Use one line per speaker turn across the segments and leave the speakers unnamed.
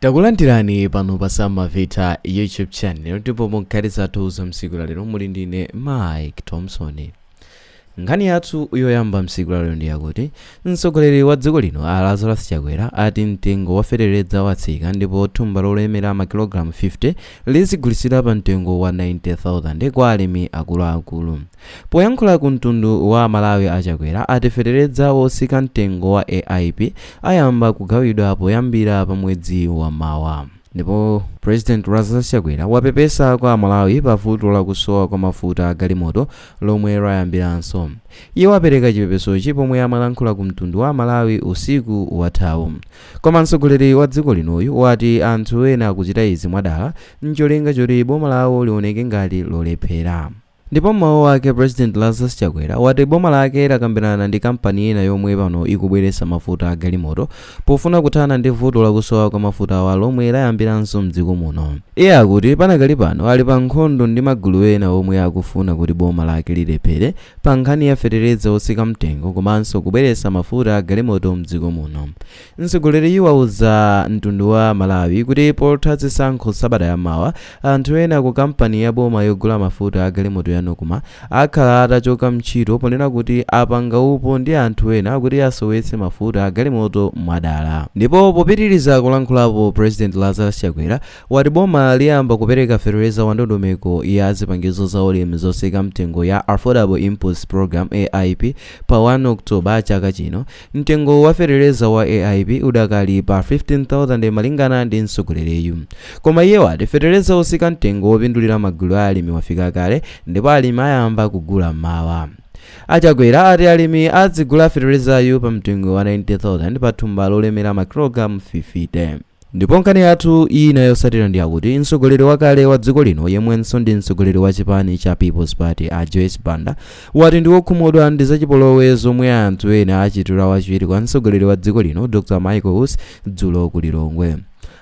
takulandirani pano pa samavita youtube channel ndipo mu nkhani zathu za m'tsiku la lero muli ndine mike thompson nkhani yathu yoyamba m'tsiku la lero ndi yakuti mtsogoleri wa dziko lino a lazarus chakwera ati mtengo wa feteleza watsika ndipo thumba lolemera makilogalamu 50 lizigulitsidwa pa mtengo wa 90000 kwa alimi akuluakulu Poyankhula ku mtundu wa aMalawi a Chakwera ati feteledza wotsika mtengo wa AIP ayamba kugawidwa poyambira pa mwezi wa mawa. Ndipo President Lazarus Chakwera wapepesa kwa aMalawi pa vuto la kusowa kwa mafuta a galimoto lomwe layambiranso. Iye wapereka chipepesochi pomwe amalankhula ku mtundu wa aMalawi usiku wathawu. Koma mtsogoleri wa dziko linoyu wati anthu ena akuchita izi mwadala ncholinga choti boma lawo lioneke ngati lolephera. Ndipo m'mawu ake president Lazarus Chakwera wati boma lake lakambirana ndi kampani ina yomwe pano ikubweretsa mafuta a galimoto pofuna kuthana ndi vuto lakusowa kwa mafutawa lomwe layambiranso mdziko muno. Iye akuti panakali pano ali pa nkhondo ndi magulu ena omwe akufuna kuti boma lake lilephere pa nkhani ya fetereza otsika mtengo komanso kubweretsa mafuta a galimoto mdziko muno. Mtsogoleriyu wauza mtundu wa Malawi kuti potha zisankho sabata ya mawa, anthu ena ku kampani ya boma yogula mafuta a galimoto ya Nocma akhala atachoka mntchito ponena kuti apanga upo ndi anthu ena kuti asowetse mafuta a galimoto mwadala. Ndipo popitiliza kulankhulapo President Lazarus Chakwera wati boma liyamba kupereka fetereza wa ndondomeko ya zipangizo za ulimi zotsika mtengo ya Affordable Inputs Program, AIP, pa 1 October chaka chino. Mtengo wa fetereza wa AIP udakali pa 15,000 malingana ndi mtsogoleriyu. Koma iye wati fetereza otsika mtengo wopindulira magulu a alimi wafika kale ndipo alimi ayamba kugula mawa. A Chakwera ati alimi adzigula feterezayu pa mtengo wa 90,000 pa thumba lolemera makilogalamu 50. Ndipo nkhani yathu ina yotsatira ndi yakuti mtsogoleri wakale wa dziko lino yemwenso ndi mtsogoleri wa chipani cha People's Party a Joyce Banda wati ndi wokhumudwa ndi zachipolowe zomwe anthu ena achitira wachiwiri kwa mtsogoleri wa dziko lino Dr Michael Usi dzulo ku Lilongwe.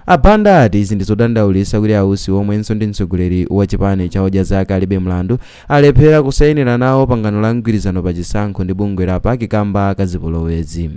A Banda ati izi ndizodandaulitsa kuti a Usi omwenso ndi mtsogoleri wa chipani cha Odya Zake Alibe Mlandu alephera kusayinira nawo pangano la mgwirizano pa chisankho ndi bungwe la PAC kamba ka zipolowezi.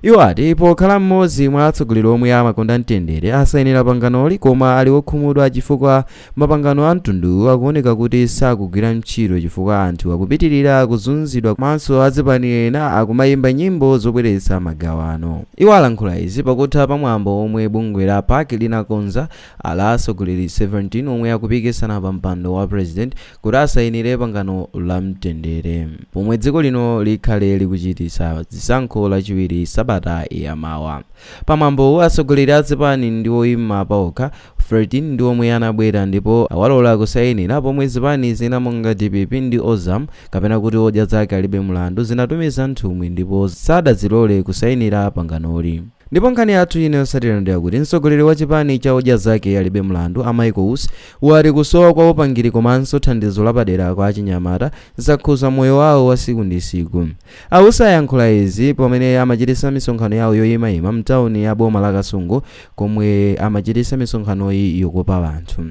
Iwo ati pokhala m'modzi mwa atsogoleri omwe amakonda mtendere asayinira panganoli koma ali okhumudwa chifukwa mapangano a mtunduwu akuoneka kuti sakugwira ntchito chifukwa anthu akupitilira kuzunzidwa komanso azipani ena akumayimba nyimbo zobweretsa magawano. Iwo alankhula izi pakutha pa mwambo omwe bungwe la PAC linakonza la atsogoleri 17 omwe akupikisana pa mpando wa president kuti asayinire pangano la mtendere pomwe dziko lino likhale likuchititsa zisankho lachiwiri sabata yamawa. Pa mwambowu atsogoleri a zipani ndi oyima paokha 13 ndi omwe anabwera ndipo awalola kusayinira pomwe zipani zina monga dpp ndi Ozam kapena kuti odya zake alibe mlandu zinatumiza nthumwi ndipo sadazilole kusayinira panganoli. Ndipo nkhani yathu ina yotsatira ndi yakuti mtsogoleri wa chipani cha odya zake alibe mlandu a Michael Usi wati kusowa kwa upangiri komanso thandizo lapadera kwa achinyamata zakhuza moyo wawo wa tsiku ndi tsiku. A Usi ayankhula izi pamene amachitisa misonkhano yawo yoyimayima mtawuni ya boma la Kasungu komwe amachitisa misonkhanoyi yokopa anthu.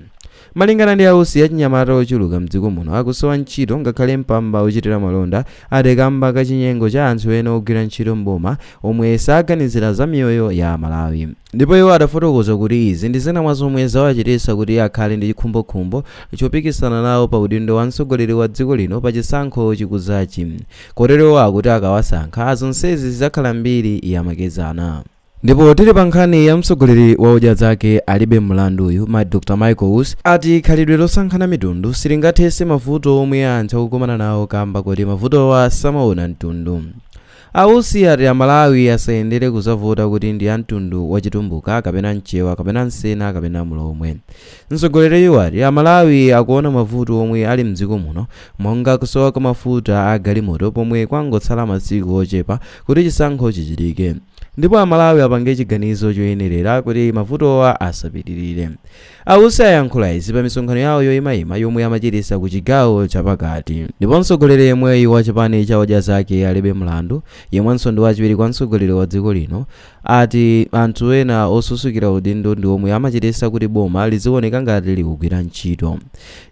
Malingana ndi a Usi achinyamata ochuluka mdziko muno akusowa ntchito ngakhale mpamba ochitira malonda ati kamba ka chinyengo cha anthu ena ogwira ntchito m'boma omwe saganizira za miyoyo ya Amalawi. Ndipo iwo adafotokoza kuti izi ndi zina mwa zomwe zawachititsa kuti akhale ndi chikhumbokhumbo chopikisana nawo pa udindo wa mtsogoleri wa dziko lino pa chisankho chikudzachi kotero iwo akuti akawasankha zonsezi zidzakhala mbiri ya makedzana. Ndipo tili pa nkhani ya mtsogoleri wa odya zake alibe mlanduyu, Dr Michael Usi ati khalidwe losankhana mitundu silingathetse mavuto omwe anthu akukumana nawo kamba koti mavutowa samaona mtundu. A Usi ati a Malawi asayendere kuzavota kuti ndi a mtundu wa chitumbuka kapena mchewa kapena msena kapena mlomwe. Mtsogoleriyu wati a Malawi akuona mavuto omwe ali mdziko muno monga kusowa kwa mafuta a galimoto pomwe kwangotsala masiku ochepa kuti chisankho chichitike ndipo a Malawi apange chiganizo choyenelera kuti mavutowa asapitilire. A Usi ayankhula izi pa misonkhano yawo yoyimayima yomwe amachitisa ku chigawo chapakati. Ndipo mtsogoleri yemweyu wa chipani cha Odya Zake Alibe Mlandu, yemwenso ndi wachiwiri kwa mtsogoleri wa dziko lino, ati anthu ena osusukira udindo ndi omwe amachitisa kuti boma liziwoneka ngati likugwira ntchito.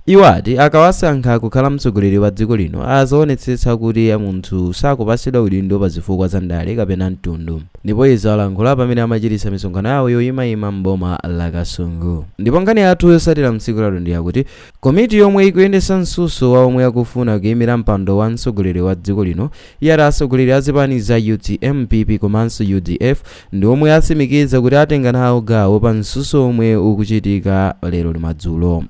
Iwo ati akawasankha kukhala mtsogoleri wa dziko lino azaonetsetsa kuti munthu sakupatsidwa udindo pa zifukwa za ndale kapena mtundu. Ndipo izi alankhula pamene amachititsa misonkhano yawo yoyimayima m'boma la Kasungu. Ndipo nkhani yathu yotsatira mtsiku lalero ndiyakuti komiti yomwe ikuyendetsa mtsutso wa omwe akufuna kuyimira mpando wa mtsogoleri wa dziko lino yati atsogoleri a zipani za utm, PP komanso udf ndi omwe atsimikiza kuti atenga nawo gawo pa mtsutso omwe ukuchitika lero lino madzulo.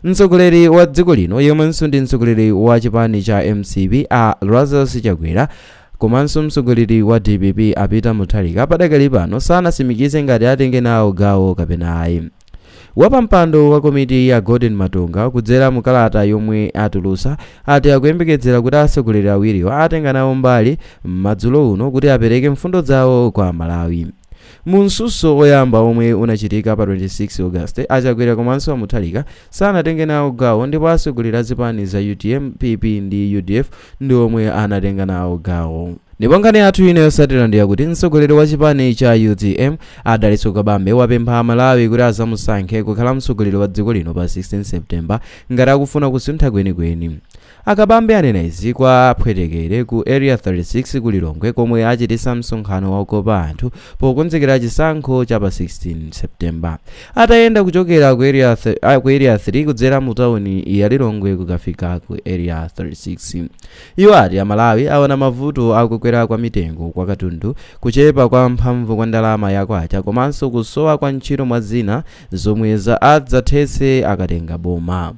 Mtsogoleri wa dziko lino yemwenso ndi mtsogoleri wa chipani cha mcp a Lazarus Chakwera komanso mtsogoleri wa dpp a Peter Mutharika padakali pano sanatsimikize ngati atenge nawo gawo kapena ayi. Wapampando wa komitiyi a Golden Matonga kudzera mu kalata yomwe atulutsa ati akuyembekedzera kuti atsogoleri awiriwo atenga nawo mbali madzulo uno kuti apereke mfundo zawo kwa Amalawi. Mu mtsutso oyamba omwe unachitika pa 26 August, a Chakwera komanso a Mutharika sanatenge nawo gawo ndipo atsogoleri a zipani za utm, PP ndi udf ndi omwe anatenga nawo gawo. Ndipo nkhani yathu ina yotsatira ndi yakuti mtsogoleri wa chipani cha utm A Dalitso Kabambe wapempha a Malawi kuti azamusankhe kukhala mtsogoleri wa dziko lino pa 16 September ngati akufuna kusintha kwenikweni. A Kabambe anena izi kwa Phwetekere ku Area 36 ku Lilongwe komwe achitisa msonkhano wakukopa anthu pokonzekera chisankho cha pa 16 September. Atayenda kuchokera ku Area 3 kudzera mu tawuni ya Lilongwe kukafika ku Area 36. Iwo ati Amalawi aona mavuto a kukwera kwa mitengo kwa katundu, kuchepa kwa mphamvu kwa ndalama ya Kwacha komanso kusowa kwa ntchito mwa zina zomwe adzathetse akatenga boma.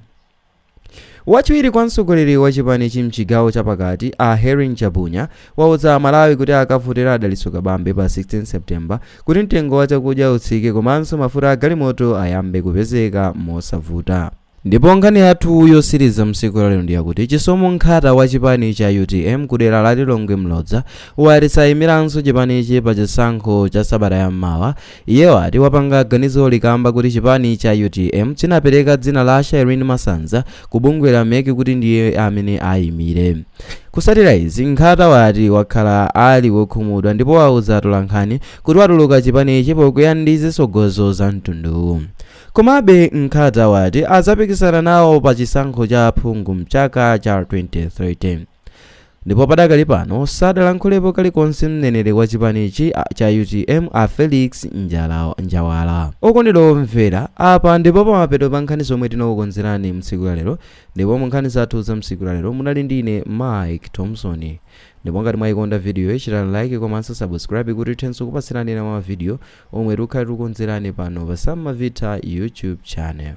Wachiwiri kwa mtsogoleri wa chipanichi m'chigawo cha pakati, a Hellen Chabunya, wauza Amalawi kuti akavotere a Dalitso Kabambe pa 16 September kuti mtengo wa chakudya utsike komanso mafuta a galimoto ayambe kupezeka mosavuta. Ndipo nkhani yathu yotsiriza mtsiku lalero ndi yakuti Chisomo Nkhata wa chipani cha utm ku dera la Lilongwe Mlodza wati sayimiranso chipanichi pa chisankho cha sabata ya mmawa. Iye wati wapanga ganizoli kamba kuti chipani cha utm chinapereka dzina la Shireen Masanza ku bungwe la mec kuti ndiye amene ayimire. Kutsatira izi, Nkhata wati wakhala ali wokhumudwa ndipo wauza atolankhani kuti watuluka chipanichi pokwiya ndi zitsogozo za mtunduwu. Komabe Nkhata wati adzapikisana nawo pa chisankho cha aphungu mchaka cha 2030. Ndipo padakali pano sadalankhulepo kalikonse mneneri wa chipanichi cha utm a Felix Njala, Njawala. Okondedwa omvera, apa ndipo pamapeto pa nkhani zomwe tinakukonzerani mtsiku la lero ndipo mu nkhani zathu za mtsiku la lero munali ndi ine Mike Thompson. Ndipo ngati mwayikonda vidiyoyi chitani like komanso subscribe kuti tithenso kupatsirani ena mwa mavidiyo omwe tikukhala tikukonzerani pano pa Samma Vita YouTube channel.